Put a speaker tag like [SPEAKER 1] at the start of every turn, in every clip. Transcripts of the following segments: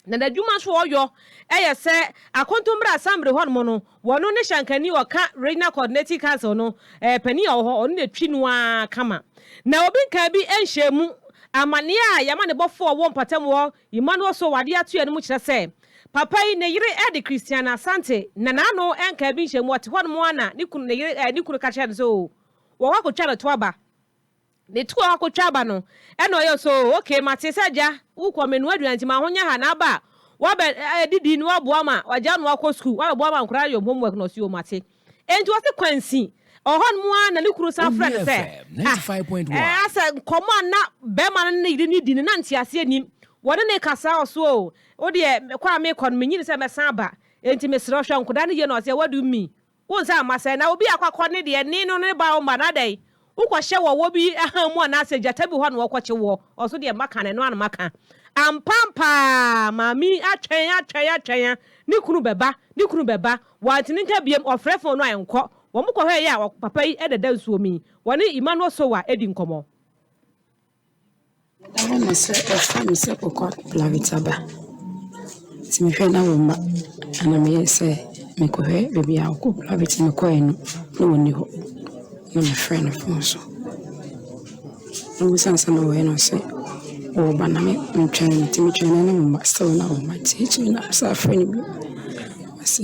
[SPEAKER 1] Na n'adwuma so ɔyɔ yɛ sɛ akonto mmerɛ asambre hɔ nom no wɔno ne hyɛnkani ɔka Regional Coordinating Council no panin a ɔwɔ hɔ ɔno na ɛtwi no ara kama na obi nkaa bi nhyɛɛ mu. Amaneɛ a yɛma ne bɔfoɔ a ɔwɔ mpatam hɔ Emmanuel Sow adeɛ atoeɛ no mu kyerɛ sɛ papa yi ne yere de Christiana Asante na n'ano nkaa bi nhyɛɛ mu ɔte hɔ nom ara na ne kunu ne yere ne kunu ka kyerɛɛ no sɛ oo wɔkɔ akɔtwa no to aba. Ne toa akotwa aba no ɛna ɔyɛ so oh okay mate sɛ agya wokɔ menoa aduane nti ma ho nyɛ ha na aba a wabɛ eh, didi na waboa ma wagya no akɔ sukuu wabɛboa ma nkora ayɔ homework na ɔsi o mate enti ɔse kwansi ɔwɔ hɔ nom a na ne kunu san frɛ no sɛ ah eh, asɛ nkɔmmɔ a na bɛrima no ne yere no di no na nteaseɛ nim wɔne ne kasa ɔso o wodeɛ kɔ a mekɔ no menyini sɛ mɛsan aba enti mesrɛ hwɛ nkoda no yie na ɔse what do you mean Wo nsa mma sɛ na obi akɔakɔ ne deɛ ne no ne ba wo mma na adɛn wokɔhyɛ wɔ wɔ bi ahan mu anaasɛ gyata bi hɔ na wɔkɔkye woɔ ɔso deɛ maka no ɛno ara na maka ampampaa maame yi atwɛn atwɛn atwɛn a ne kunu bɛba ne kunu bɛba wante ne nka biom ɔfrɛ fon no a ɛnkɔ wɔn kɔhwɛɛ yɛ a papa yi ɛdeda nsuo mu yi wɔne Emmanuel Sowa ɛdi nkɔmmɔ.
[SPEAKER 2] Meda hɔ ma sɛ wɔfrɛ me sɛ Kokwa Blavita ba. Nti mehwɛ na wo mma ɛna meyɛ sɛ mekɔhwɛ baabi a Ɔko Blavita no kɔeɛ no na ɔnni hɔ. Na mefrɛ no fon so na ɔsane sɛ na ɔyɛ no ɔse ɔɔba na mentwɛn no nti metwɛn na ne mma still na ɔmma nti akyire yi na mesan frɛ no bio. Ase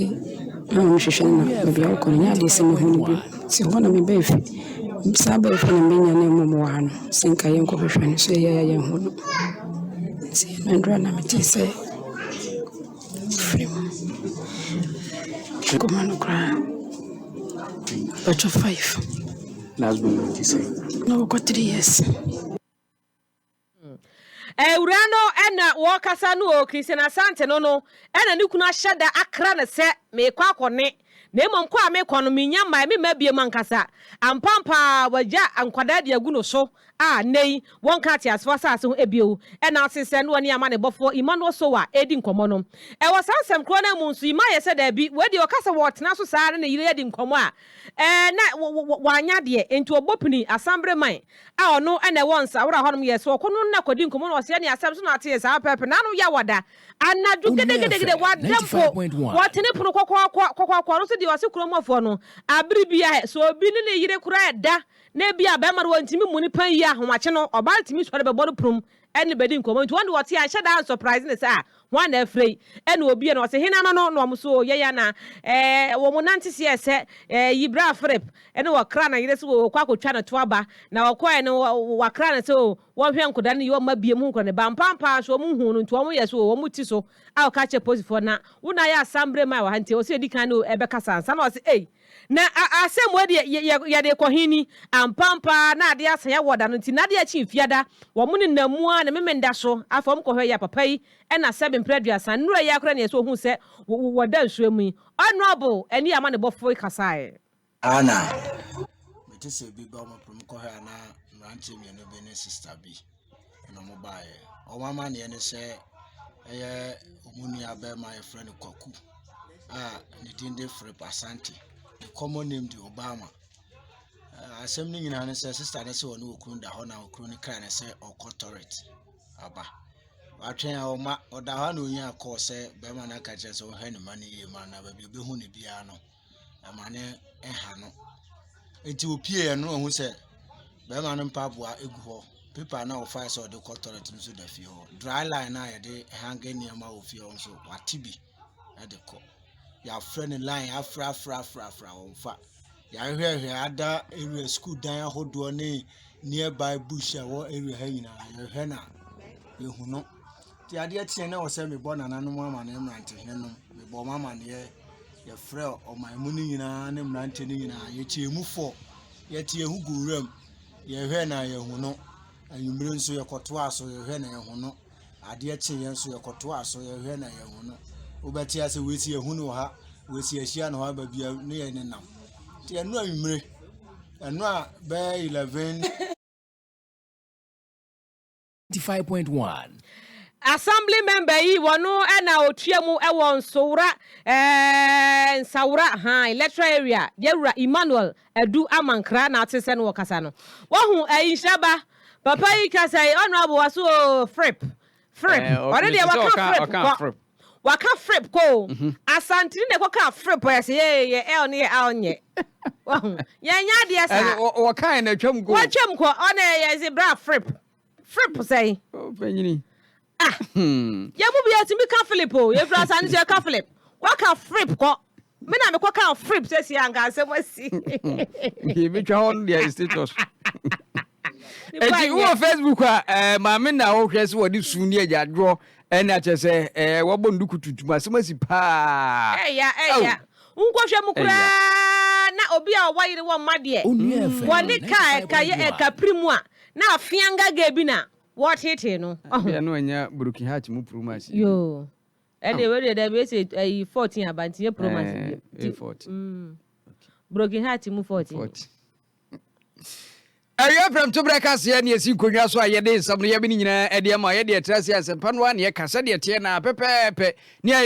[SPEAKER 2] na wɔn hwehwɛ no na baabi a wɔkɔ no nyɛ adeɛ sɛ mɛhu no bio nti hɔ na mebaa fie mesan baa fie na menya ne mmɔbɔwa no sɛ nka yɛnkɔ hwehwɛ no so yɛyɛ a yɛnhu no nti ɛduru a na mete sɛ frɛ mu nkɔma no koraa bɛtɔ five
[SPEAKER 3] na wɔkɔ three
[SPEAKER 2] years
[SPEAKER 1] Awuraa no na ɔɔkasa no oo, Christian Asante no no na ne kunu ahyɛ da akra no sɛ meekɔ akɔ ne, na mmom kɔ a meekɔ no mennya mmae, memma biam ankasa. Ampaampa ara wagya nkwadaa de agu no so a nnɛ yi wɔnka ateasefo asase ho bio na ɔse sɛ na ɔne amanebɔfoɔ Emmanuel Sowa redi nkɔmmɔ no. Wɔ saa nsɛm korɔ no ara mu nso Emma yɛ sɛ daabi, wei deɛ ɔka sɛ wɔɔtena so saa ara ne ne yere adi nkɔmmɔ a Ɛɛ, na wanya adeɛ. Enti ɔbɔ pini, Asanbere man, a ɔno na ɛwɔ Nsawora hɔnom yɛ. So ɔkɔ no na kɔdi nkɔmmɔ na ɔse ɛneɛ asɛm so na ɔteɛ saa pɛpɛpɛ. N'ano yɛ a wada. Anadwo gedegedegede, wada mpo. Wɔtene pono kɔkɔɔkɔ, kɔkɔɔkɔ. Ɔno nso deɛ ɔse kurom hɔfoɔ no, abere biara, sɛ obi ne ne yere koraa da na ebia barima no ɔntumi mmu no pɛn yie a, ahomakye no, ɔbaa no tumi sɔre bɛbɔ no prum ne bedi nkɔmmɔ nti wɔn de wɔte a ɛhyɛ da nsɔpraese no saa hwan na afrɛ yi ɛna obie no ɔse hena no no na wɔn so o yɛn anaa ɛɛ wɔn nante seɛ sɛ ɛɛ yi bra Philip ɛne wɔkra na yere se wɔ wɔkɔ akɔtwa ne to aba na wɔkɔɛ no wɔakra ne sɛ o wɔnhwɛ nkoda no yɛ wɔn ma bie mu nkora ne ba mpampaa so wɔn hu no nti wɔn yɛ so o wɔn ti so a wɔka kyɛ posifoɔ na wo na ayɛ asambre ma wɔ ha nti ɛwɔ sɛ yɛdi kan ne o ɛbɛkasa ansa na ɔse ei Na asɛm wei deɛ yɛ, yɛ, yɛde rekɔ he ni, Ampaapa ara na adeɛ asan wɔ da no nti, na adeɛ akyi mfiada, wɔn nenam mu ara ne Memenda so, afei wɔn kɔhwɛɛ yɛn papa yi, ɛna sɛbe mprɛ aduasa, nnurɛ yi ara koraa na yɛsɛ ohuu sɛ wɔ, wɔ, wɔda nsuo mu yi. Honourable ɛne amanebɔfoɔ yi kasaeɛ. Aa na
[SPEAKER 4] mete sɛ ebi bɔ mo pɛ, mokɔhwɛ a na mmeranteɛ mmienu bi ne sista bi. na wɔn baeɛ wɔn amaneɛ ne sɛ ɛyɛ wɔn nua bɛrima a yɛfrɛ no kwaku a ne din de philip asante the common name de obama asɛm no nyinaa ne sɛ sista ne sɛ ɔne okunu da hɔ na okunu ne kaa ne sɛ ɔkɔ tɔret aba watwɛn a ɔma ɔda hɔ na onyaa kɔɔ sɛ bɛrima no aka kyerɛ sɛ ɔhwɛ ne ma no yie ma na baabi obɛhu ne biara no ama no ɛha no nti ɔpueɛ no ɔhu sɛ bɛrima no mpaboa gu hɔ paper no a ɔfae sɛ ɔde kɔ toilet no nso da fie hɔ dry line no a yɛde hange nneɛma wɔ fie hɔ nso wate bi de kɔ yɛafrɛ no line afra afra afra afra wɔn fa yɛahwɛhwɛ ada area school dan ahodoɔ ne nearby bush a ɛwɔ area ha nyinaa yɛhwɛ no a yɛhu no Deɛ adeɛ kyeɛ na ɛwɔ sɛ mebɔ nananom amaneɛ mmerantehene nom mebɔ wɔn amaneɛ yɛfrɛ ɔman mu no nyinaa ne mmerante no nyinaa yɛkyɛɛ mu fɔ yɛte yɛho gu wuram yɛhwɛ na yɛhu no anwummere nso yɛkɔtoa so yɛhwɛ na yɛhu no adeɛ kye yɛn nso yɛkɔtoa so yɛhwɛ na yɛhu no wobɛte ase wɔsi yɛhu no wɔ ha wɔsi ahyia no hɔ aba bia ne yɛ ne nam nti ɛno anwummere ɛno a bɛyɛ 11
[SPEAKER 3] 95.1.
[SPEAKER 1] Assembly member yi wɔno ɛna otua mu ɛwɔ Nsowra ɛɛ Nsawra han electoral area yɛwura Emmanuel Adu Amankra na ate sɛ no wɔ kasa no wahu ɛyi nhyiraba papa yi kasa yi honorable waso oo frip frip ɔde deɛ waka frip kɔ. Waka frip kɔ o. Asanteni na ɛkɔkaa frip hɔ yɛse yɛ yɛ L ne yɛ Al nyɛ. Wahu? Yɛnyɛ adeɛ saa. Ɛne wɔ wɔkaeɛ na atwam kɔ
[SPEAKER 5] o. Watwam kɔ. Ɔne yɛ
[SPEAKER 1] yɛse bra frip. Frip sɛn? Oh panyini.
[SPEAKER 5] Ah.
[SPEAKER 1] Yɛn mu bi yɛtumi ka Philip o. Yɛfiri Asante so yɛka Philip. Waka frip kɔ. Me na mekɔ ka frip sɛsi anka asɛm asi. Nti
[SPEAKER 5] yɛbɛtwa hɔ no deɛ status. Eti wowɔ Facebook a ɛɛ maame na wohwɛ sɛ wɔde su ne agyadwoɔ ɛne akyɛ sɛ ɛɛ wɔbɔ nduku tuntum asɛm asi paa. Ɛya ɛya
[SPEAKER 1] wonkɔhwɛ mu koraa na obi a ɔwɔ yere wɔ mma deɛ wɔne ka a ɛka yɛ ɛka piri mu a na afea ngaga bi na wɔtetee no. Ɔho. Ɛdeɛ no ɛnyɛ broken
[SPEAKER 5] heart mu promasi. Yoo
[SPEAKER 1] ɛdeɛ wei deɛ dɛbi esi ɛyi fourteen aba nti nyɛ promasi bi. Ɛɛ ɛyɛ fourteen.
[SPEAKER 5] Broken
[SPEAKER 1] heart mu fourteen.
[SPEAKER 5] Awia prɛmto berɛ kaseɛ ne yɛsi nkonnwa so a yɛde nsɛm no yɛbɛ ne nyinaa ɛde ama yɛde ɛtra ase asɛmpa no a ne yɛka sɛdeɛ ɛteɛ na pɛpɛɛpɛ ne ayɛ